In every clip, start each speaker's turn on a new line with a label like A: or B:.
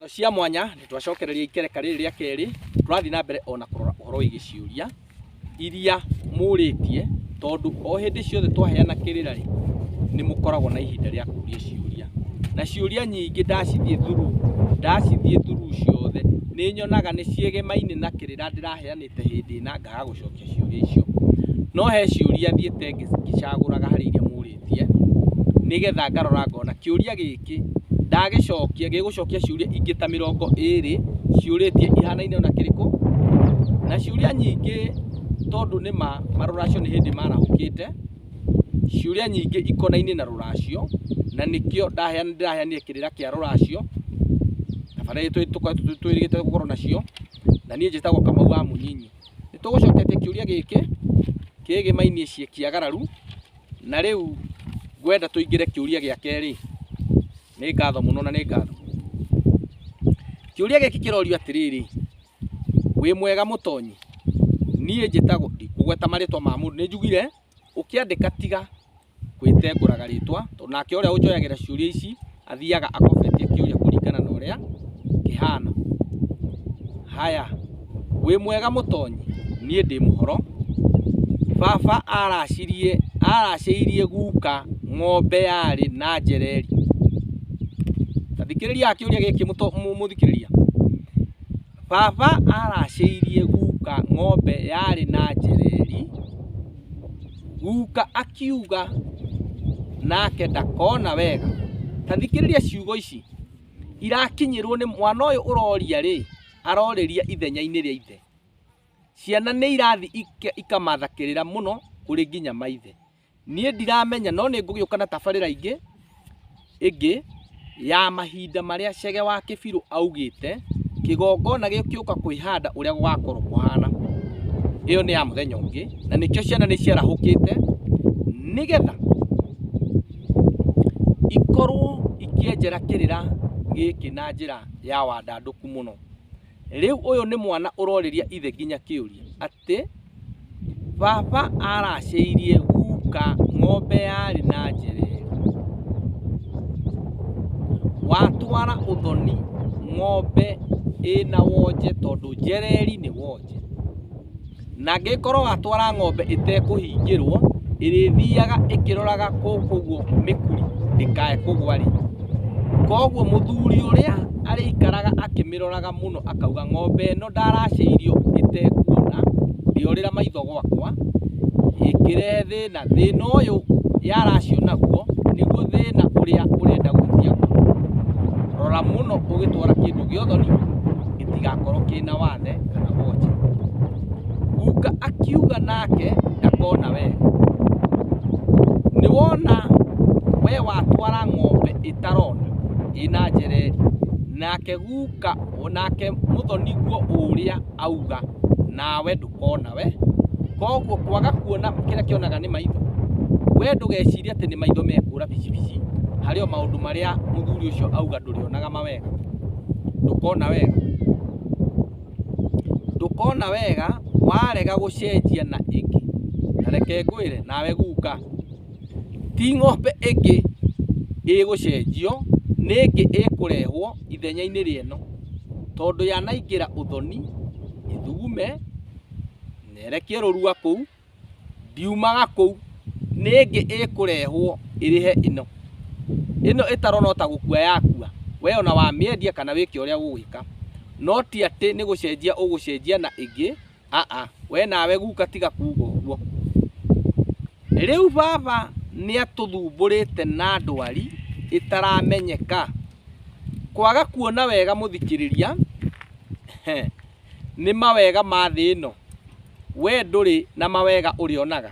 A: cia mwanya nĩ twacokereria ikereka rĩrĩ rĩa kerĩ tũrathiĩ na mbere ona kũrora ũhoro wĩgiĩ ciũria iria mũrĩtie tondũ o hĩndĩ ciothe twaheana kĩrĩra rĩ nĩ mũkoragwo na ihinda rĩa kũria ciũria na ciũria nyingĩ ndacithiĩ thuru ndacithiĩ thuru ciothe nĩ nyonaga nĩ ciĩgemaine na kĩrĩra ndĩraheanĩte hĩndĩ ĩna ngaga gũcokia ciũria icio no he ciũria thiĩte ngĩcagũraga harĩ iria mũrĩtie ndĩrarĩtie nĩgetha ngarora ngona kĩũria gĩkĩ ndagĩcokia gĩgũcokia ciũria ingĩ ta mĩrongo ĩrĩ ciũrĩtie ihanaine ona kĩrĩkũ na ciũria nyingĩ tondũ nĩ ma marũracio nĩ hĩndĩ marahũkĩte ciũria nyingĩ ikonainie na rũracio na nĩkĩo ndĩraheanire kĩrĩra kĩa rũracio kana twĩrĩgĩte gũkorwo nacio na niĩ njĩtagwo Kamau wa Mũnyinyi. Nĩ tũgũcoketie kĩũria gĩkĩ kĩgĩmainie ciĩkĩagararu. Na rĩu ngwenda tũingĩre kĩũria gĩa kerĩ. Nĩ ngatho mũno na nĩ ngatho. Kĩũria gĩkĩ kĩrorio atĩrĩrĩ, wĩ mwega mũtonyi? Niĩ njĩtagwo, ndikũgweta marĩtwa ma mũndũ, nĩ njugire ũkĩandĩka tiga gwĩtengũraga rĩtwa, tondũ nake ũrĩa ũnjoyagĩra ciũria ici athiaga akobetie kĩũria kũringana na ũrĩa kĩhana. Haya, wĩ mwega mũtonyi? Niĩ ndĩ mũhoro. Baba aracirie aracĩirie guka ng'ombe yarĩ na njereri. Ta thikĩrĩriaga kĩũria gĩkĩ mũthikĩrĩria. Baba aracĩirie guka ng'ombe yarĩ na njereeri, guka akiuga nake ndakona wega. Ta thikĩrĩria ciugo ici, irakinyĩrwo nĩ mwana ũyũ ũroria rĩ, aroreria ithenya-inĩ rĩa ithe. Ciana nĩ irathiĩ ikamatha kĩrĩra mũno kũrĩ nginya maithe. Niĩ ndiramenya no nĩ ngũgĩũka na tabarĩra ingĩ ĩngĩ ya mahinda marĩa Chege wa Kĩbirũ augĩte kĩgongona gĩũka kwĩhanda ũrĩa gũgakorwo kũhana. Ĩyo nĩ ya mũthenya ũngĩ na nĩkĩo ciana nĩ ciarahũkĩte nĩgetha ikorwo ikĩenjera kĩrĩra gĩkĩ na njĩra ya wandandũku mũno. Rĩu ũyũ nĩ mwana ũrorĩria ithe nginya kĩũria. atĩ, Baba aracĩirie guka ng'ombe yarĩ na njereru. Watwara ũthoni ng'ombe ĩna wonje tondũ njereri nĩ wonje. Na angĩgĩkorwo watwara ng'ombe ĩtekũhingĩrwo, ĩrĩthiaga ĩkĩroraga gũkũ ũguo mĩkuri ndĩkae kũgwa rĩ. Koguo mũthuri ũrĩa arĩikaraga akĩmĩroraga. mũno akauga ng'ombe ĩno ndaracĩirio ĩtekuona ndĩorĩra maitho gwakwa ĩkĩrehe thĩna, thĩna ũyũ yaracio naguo nĩguo thĩna ũrĩa ũrenda gwĩtia mũndũ. Rora mũno ũgĩtwara kĩndũ gĩa ũthoni gĩtigakorwo kĩna wathe kana wonje. Guka akiuga nake ndakona wega, nĩwona we watwara ng'ombe ĩtarona ĩna njereri nake... guka nake mũthoni guo ũrĩa auga nawe ndũkona we koguo kwaga kuona kĩrĩa kĩonaga nĩ maitho we ndũgecirie atĩ nĩ maitho mekũra bicibici harĩ o maũndũ marĩa mũthuri ũcio auga ndũrĩonaga mawega ndũkona wega ndũkona wega warega gũcenjia na ĩngĩ na reke ngwĩre nawe guka Ti ng'ombe ĩngĩ ĩgũcenjio, nĩ ĩngĩ ĩkũrehwo ithenya-inĩ rĩeno, tondũ yanaingĩra ũthoni, ĩthugume, na ĩrekie rũrua kũu, ndiumaga kũu, nĩ ĩngĩ ĩkũrehwo ĩrĩhe ĩno. Ĩno ĩtarona o ta gũkua yakua, we ona wamĩendia kana wĩke ũrĩa ũgwĩka, no ti atĩ nĩ gũcenjia ũgũcenjia na ĩngĩ. aa we nawe guka tiga kuga ũguo rĩu baba nĩ atũthumbũrĩte na ndwari ĩtaramenyeka kwaga kuona wega mũthikĩrĩria he, nĩ mawega ma thĩ ĩno we ndũrĩ na mawega ũrĩonaga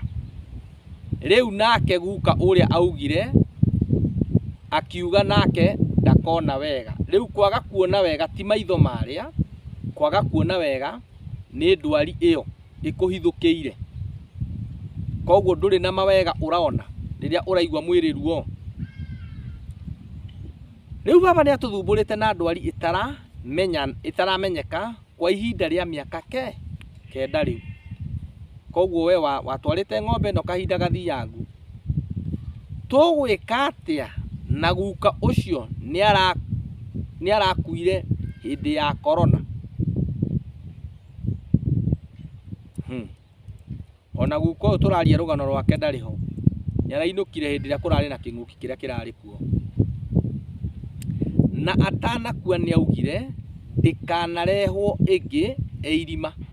A: rĩu nake guka ũrĩa augire akiuga nake ndakona wega rĩu kwaga kuona wega ti maitho marĩa kwaga kuona wega nĩ ndwari ĩyo ĩkũhithũkĩire. Koguo ndũrĩ na mawega ũrona rĩrĩa ũraigua mwĩrĩ ruo. Rĩu baba nĩ atũthumbũrĩte na ndwari ĩtaramenya ĩtaramenyeka kwa ihinda rĩa mĩaka ke kenda rĩu. Koguo we watwarĩte ng'ombe ĩno kahinda gathiangu Tũgwĩka atĩa na guka ũcio nĩarakuire hĩndĩ ya korona? Hmm. Ona guka ũyũ tũraria rũgano rwake ndarĩ ho. Nĩarainũkire hĩndĩ ĩrĩa kũrarĩ na kĩng'ũki kĩrĩa kĩrarĩ kuo. Na atanakua nĩaugire ndĩkanarehwo ĩngĩ e irima.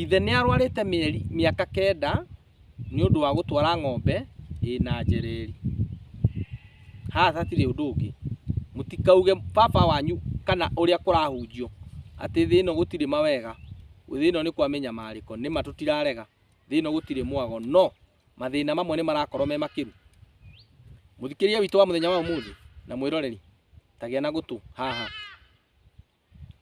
A: Ithe nĩ arwarĩte mĩeri mĩaka kenda nĩ ũndũ wa gũtwara ng'ombe ĩna njereeri. Haha hatirĩ ũndũ ũngĩ. Mũtikauge baba wanyu kana ũrĩa kũrahunjio atĩ thĩ ĩno gũtirĩ mawega, thĩ ĩno nĩ kwa mĩnyamarĩko. Nĩ ma tũtirarega, thĩ ĩno gũtirĩ mwago, no mathĩna mamwe nĩ marakorwo me makĩru. Mũthikĩria witũ wa mũthenya wa ũmũthĩ na mwĩroreri, ta gĩa na gũtũ haha.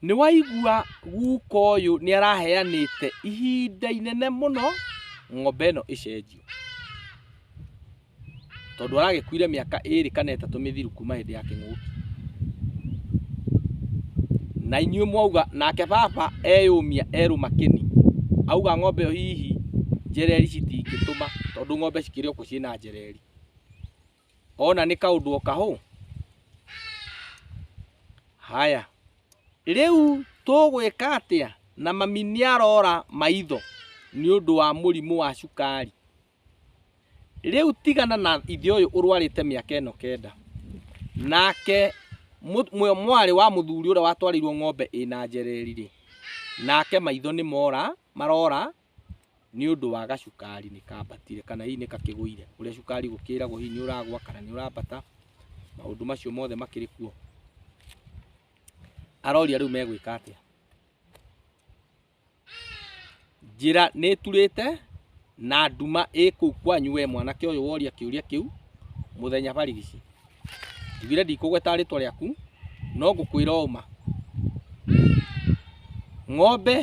A: Nĩwaigua guka ũyũ nĩaraheanĩte ihinda inene mũno ng'ombe ĩno ĩcenjio. Tondũ aragĩkuire mĩaka ĩrĩ kana ĩtatũ mĩthiru kuma hĩndĩ ya kĩng'ũki. Na inyuĩ mwauga, nake baba eyũmia erũma kĩni, auga ng'ombe ĩyo hihi njereri citingĩtũma tondũ ng'ombe cikĩrĩ o kuo ciĩ na njereri. Ona nĩ kaũndũ o kahũ. Haya, rĩu tũgwĩka atĩa na mami nĩ arora maitho nĩ ũndũ wa mũrimũ wa cukari? Rĩu tigana na ithe ũyũ ũrwarĩte mĩaka ĩno kenda, nake mwarĩ wa mũthuri ũrĩa watwarĩirwo ng'ombe ĩna njereri-rĩ, nake maitho nĩ mora, marora nĩ ũndũ wa gacukari nĩ kambatire kana hihi nĩ gakĩgũire, ũrĩa cukari gũkĩragwo hihi nĩ ũragwa kana nĩ ũrambata, maũndũ macio mothe makĩrĩ kuo. Aroria rĩu megwĩka atĩa. Njĩra nĩ ĩturĩte na nduma ĩkũu kwanyu we mwanake ũyũ woria kĩũria kĩu mũthenya barigici. njugire ndikũgweta rĩtwa rĩaku no ngũkwĩra ũma ng'ombe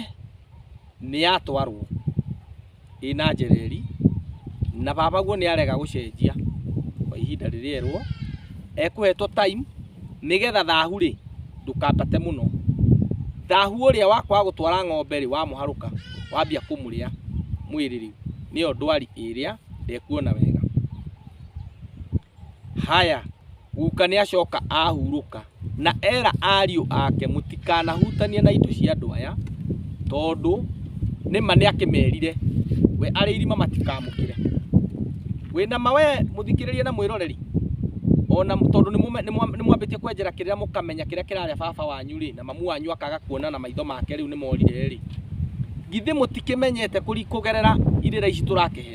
A: nĩ yatwarwo ĩna njereri na baba guo nĩ arega gũcenjia kwa ihinda rĩrĩa erwo ekũhetwo time nĩgetha thahu rĩ ndũkambate mũno thahu ũrĩa wakwa wa gũtwara ng'ombe rĩ wamũharũka wambia kũmũrĩa mwĩrĩ rĩ nĩyo ndwari ĩrĩa ndekuona wega Haya, guka nĩ acoka ahurũka, na era ariũ ake, mũtikanahutanie na indo cia andũ aya, tondũ nĩma nĩ akĩmerire we arĩ irima matikamũkĩre. Wĩna ma we mũthikĩrĩrie na mwĩroreri, ona tondũ nĩ mwambĩtie kwenjera kĩrĩra mũkamenya kĩrĩa kĩrarĩa baba wanyu rĩ, na mamu wanyu akaga kuona na maitho make rĩu nĩ morire rĩ, githĩ mũtikĩmenyete kũgerera irĩra ici tũrakĩhe?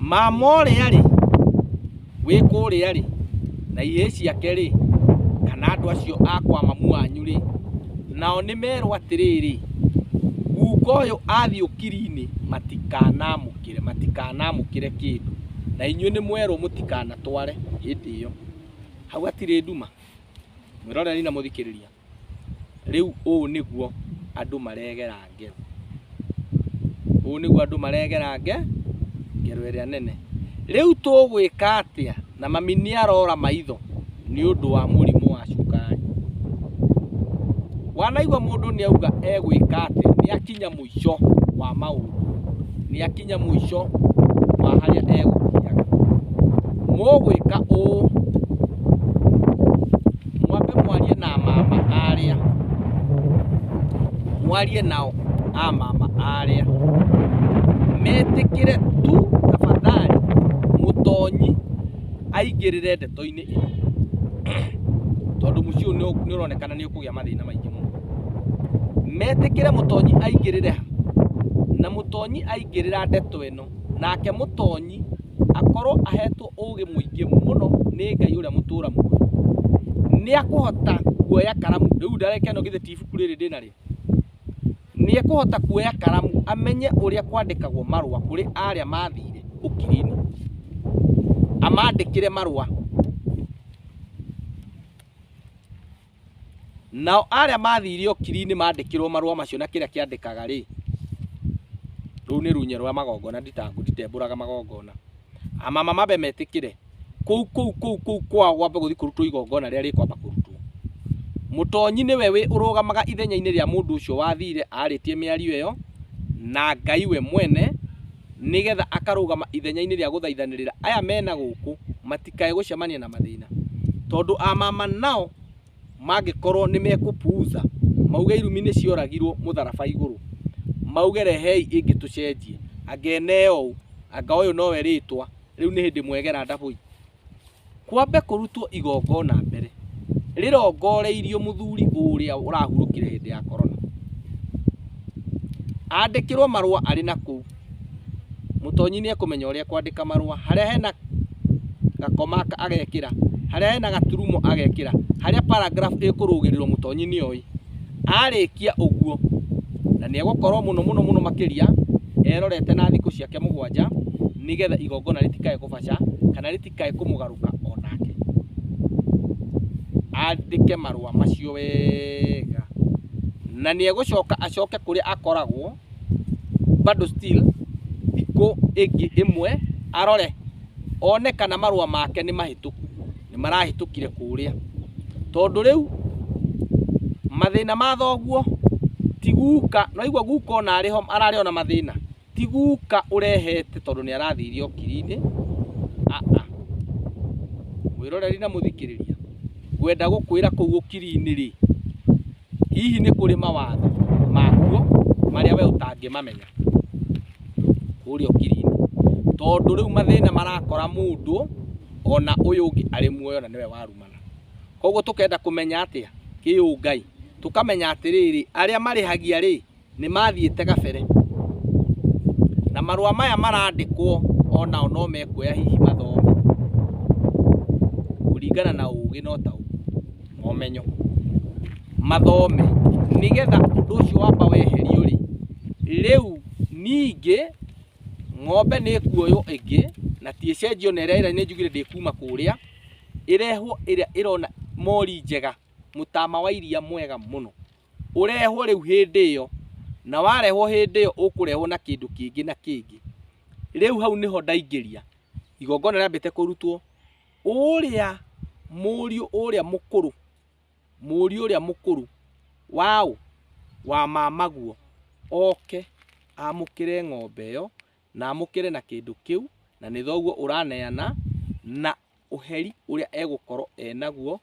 A: mama ũrĩa rĩ wĩ kũrĩa rĩ na ihĩĩ ciake rĩ kana andũ acio a kwa mamu wanyu rĩ nao nĩ merwo atĩrĩrĩ guka ũyũ athiĩ ũkiri-inĩ matikanamũkĩre matikanamũkĩre kĩndũ na inyuĩ nĩ mwerwo mũtikanatware hĩndĩ ĩyo hau hatirĩ nduma mwĩroreri na mũthikĩrĩria Rĩu ũũ nĩguo andũ maregera ngero, ũũ nĩguo andũ maregera nge, ngero ĩrĩa nene. Rĩu tũgwĩka atĩa? Na mami nĩ arora maitho nĩ ũndũ wa mũrimũ wa cukari. Wanaigua mũndũ nĩ auga egwĩka atĩa, nĩ akinya mũico. mũico wa maũndũ nĩ akinya mũico wa harĩa egũkiaga mũgwĩka ũũ mwambe mwarie na mama arĩa mwarie nao a mama arĩa metĩkĩre tu tafadhali mũtonyi aingĩrĩre ndeto-inĩ tondũ mũciĩ ũyũ nĩ- nĩ ũronekana nĩ ũkũgĩa mathĩna maingĩ mũno metĩkĩre mũtonyi aingĩrĩre ha na mũtonyi aingĩrĩra ndeto ĩno nake mũtonyi akorwo ahetwo ũgĩ mũingĩ mũno nĩ ngai ũrĩa mũtũra muoyo nĩ akũhota kuoya karamu rĩu ndareke ĩno githĩ ti ibuku rĩrĩ ndĩnarĩo Nĩ ekũhota kuoya karamu amenye ũrĩa kwandĩkagwo marũa kũrĩ arĩa mathire ũkiri-inĩ, amandĩkĩre marũa. Nao arĩa mathire ũkiri-inĩ mandĩkĩrwo marũa macio na kĩrĩa kĩandĩkaga rĩ, rũu nĩ runye rwa magongona, nditangu, nditembũraga magongona. Amamamabe metĩkĩre. kũu kũu kũu kũu kwao gwambe gũthiĩ kũrutwo igongona rĩrĩa rĩkwamba kũrutwo mũtonyi nĩwe wĩ ũrũgamaga ithenya-inĩ rĩa mũndũ ũcio wathire arĩtie mĩario ĩyo na ngai we mwene nĩgetha akarũgama ithenya-inĩ rĩa gũthaithanĩrĩra aya mena gũkũ matikae gũcemania na mathĩna tondũ amama nao mangĩkorwo nĩ mekũpuuza mauge irumi nĩ cioragirwo mũtharaba igũrũ mauge rehei ĩngĩ tũcenjie anga ene ũũ anga ũyũ nowe rĩtwa rĩu nĩ hĩndĩ mwegera ndabũi kwambe kũrutwo igongona mbere rĩrongoreirio mũthuri ũrĩa ũrahurũkire hĩndĩ ya korona andĩkĩrwo marũa arĩ na kũu mũtonyi nĩ ekũmenya ũrĩa kwandĩka marũa harĩa hena gakoma agekĩra harĩa hena gaturumo agekĩra harĩa paragraph ĩkũrũgĩrĩrwo mũtonyi nĩ oĩ Arĩkia ũguo, na nĩegũkorwo mũno mũno mũno makĩria erorete na thikũ ciake mũgwanja, nĩ getha igongona rĩtikae kũbaca, kana rĩtikae kũmũgarũka o nake. Andĩke marũa macio wega. Na nĩegũcoka acoke kũrĩa akoragwo, bado still thikũ ĩngĩ ĩmwe arore one kana marũa make nĩ mahĩtũku nĩ marahĩtũkire kũrĩa tondũ rĩu mathĩna ma thoguo ti guka noigua guka ona arĩ ho ararĩ ona mathĩna ti guka ũrehete tondũ nĩ arathiire okiri-inĩ aa mwĩroreri na mũthikĩrĩria ngwenda gũkwĩra kũu ũkiri-inĩ rĩ Hihi nĩ kũrĩ mawatho makuo marĩa we ũtangĩmamenya kũrĩa ũkiri-inĩ? Tondũ rĩu mathĩna marakora mũndũ ona ũyũ ũngĩ arĩ muoyo na nĩwe warumana. Koguo tũkenda kũmenya atĩa kĩũngai? Tũkamenya atĩrĩrĩ, arĩa marĩhagia rĩ, nĩ mathiĩte gabere na marũa maya marandĩkwo o nao no mekuoya hihi mathome kũringana na ũũgĩ no ta na ũmenyo mathome nĩgetha ũndũ ũcio wamba weherio rĩ rĩu ningĩ ng'ombe nĩ ĩkuoywo ĩngĩ na ti ĩcenjio na ĩrĩa ĩrĩa nĩ njugire ndĩkuma kũrĩa ĩrehwo ĩrĩa ĩrona mori njega mũtama wa iria mwega mũno ũrehwo rĩu hĩndĩ ĩyo na warehwo hĩndĩ ĩyo ũkũrehwo na kĩndũ kĩngĩ na kĩngĩ rĩu hau nĩho ndaingĩria igongona rĩambĩte kũrutwo ũrĩa mũriũ ũrĩa mũkũrũ mũriũ ũrĩa mũkũrũ waũ wa mamaguo oke amũkĩre ng'ombe ĩyo na amũkĩre na kĩndũ kĩu na nĩ thoguo ũraneana na ũheri ũrĩa egũkorwo enaguo,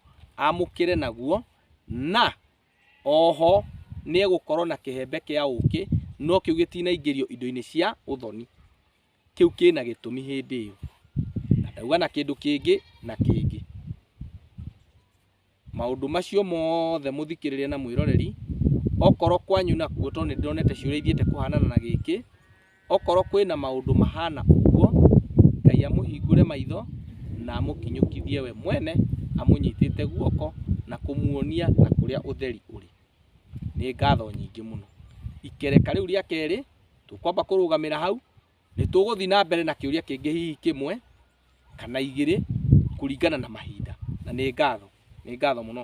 A: amũkĩre naguo, na oho nĩ egũkorwo na kĩhembe kĩa ũkĩ, no kĩu gĩtinaingĩrio indo-inĩ cia ũthoni, kĩu kĩna gĩtũmi hĩndĩ ĩyo, na ndauga na kĩndũ kĩngĩ na kĩngĩ. Maũndũ macio mothe mũthikĩrĩria na mwĩroreri, okorwo kwanyu nakuo tondũ nĩndĩronete ciũria ithiĩte kũhanana na gĩkĩ, okorwo kwĩna maũndũ mahana ũguo, Ngai amũhingũre maitho na amũkinyũkithie we mwene amũnyitĩte guoko na kũmuonia na kũrĩa ũtheri ũrĩ. Nĩ ngatho nyingĩ mũno. Ikereka rĩu rĩa kerĩ, tũkwamba kũrũgamĩra hau. Nĩ tũgũthiĩ na mbere na kĩũria kĩngĩ hihi kĩmwe kana igĩrĩ kũringana na mahinda. Na nĩ ngatho. Nĩ ngatho mũno.